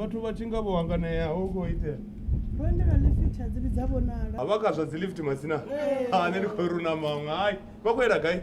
vhathu vha tshi nga vho hanganea ho khou itea a vha kazwa dzi lift masina a ne ndi khou runa maṅwe hai vha khou yela gai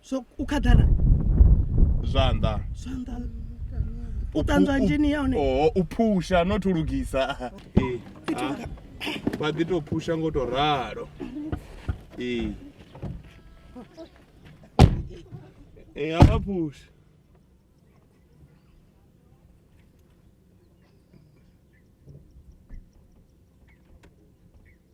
so u khaḓana zwanḓa zwanḓa u ṱanzwa nzhini ya hone oo u phusha no thu lugisa ee vha ḓi tou phusha ngo tou ralo ee ee a vha phusha